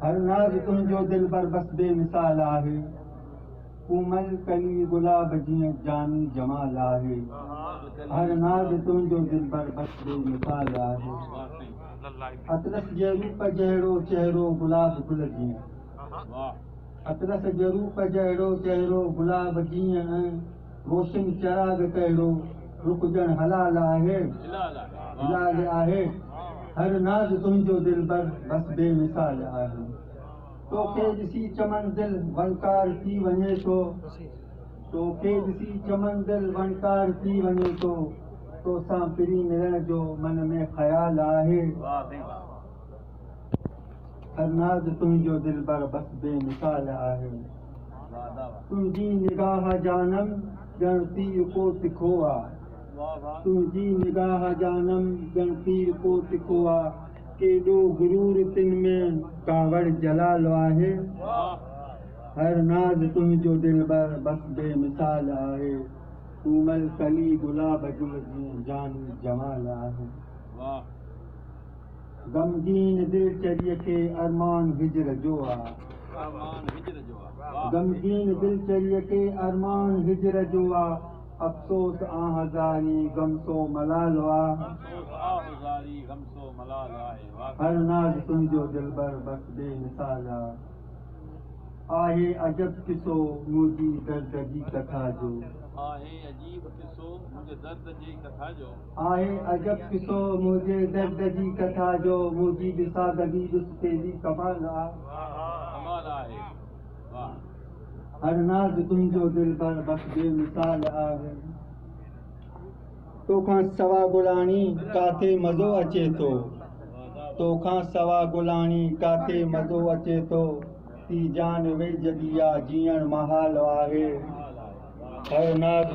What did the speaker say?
هر ناز تنهنجو دلبر بس بي مثال آهي ڪومل ڪلي گلاب جيئن جاني جمال آهي هر ناز تنهنجو دلبر بس بي مثال آهي اطلس جي روپ جهڙو چهرو گلاب گل جيئن اطلس جي روپ جهڙو چهرو گلاب جيئن روشن چراغ ڪهڙو رڪجڻ حلال آهي حلال آهي هر ناز تنهنجو دلبر بس بي مثال آهي توکي ڏسي چمن دل وڻڪار ٿي وڃي ٿو توکي ڏسي چمن دل وڻڪار ٿي وڃي ٿو توسان پرين ملڻ جو من ۾ خيال آهي فرناز تنهنجو دلبر بس بي مثال آهي تنهنجي نگاهه جانم ڄڻ تير ڪو تکو آ تنهنجي نگاهه جانم ڄڻ تير ڪو تکو آ ڪيڏو غرور تن ۾ ڪاوڙ جلال آهي فرناز تنهنجو دلبر بس بي مثال آهي ڪومل ڪلي گلاب جو جيئن جاني جمال آهي غمگين دل چريء کي ارمان هجر جو آ. غمگين دل چريء کي ارمان هجر جو آ. افسوس آه زاري غم سو ملال آ. هر ناز تنهنجو دلبر بس بي مثال آ. آهي عجب قصو منهنجي درد جي ڪٿا جو. آهي عجب قصو منهنجي درد جي ڪٿا جو منهنجي به سادگي ڏس تيري ڪمال آ هر ناز تنهنجو دلبر بس بي مثال آ تو کان سوا گلاڻي ڪاٿي مزو اچي ٿو تو کان سوا گلاڻي ڪاٿي مزو اچي ٿو تي جان ويجهه ڏي آ جيئڻ محال آهي هر ناز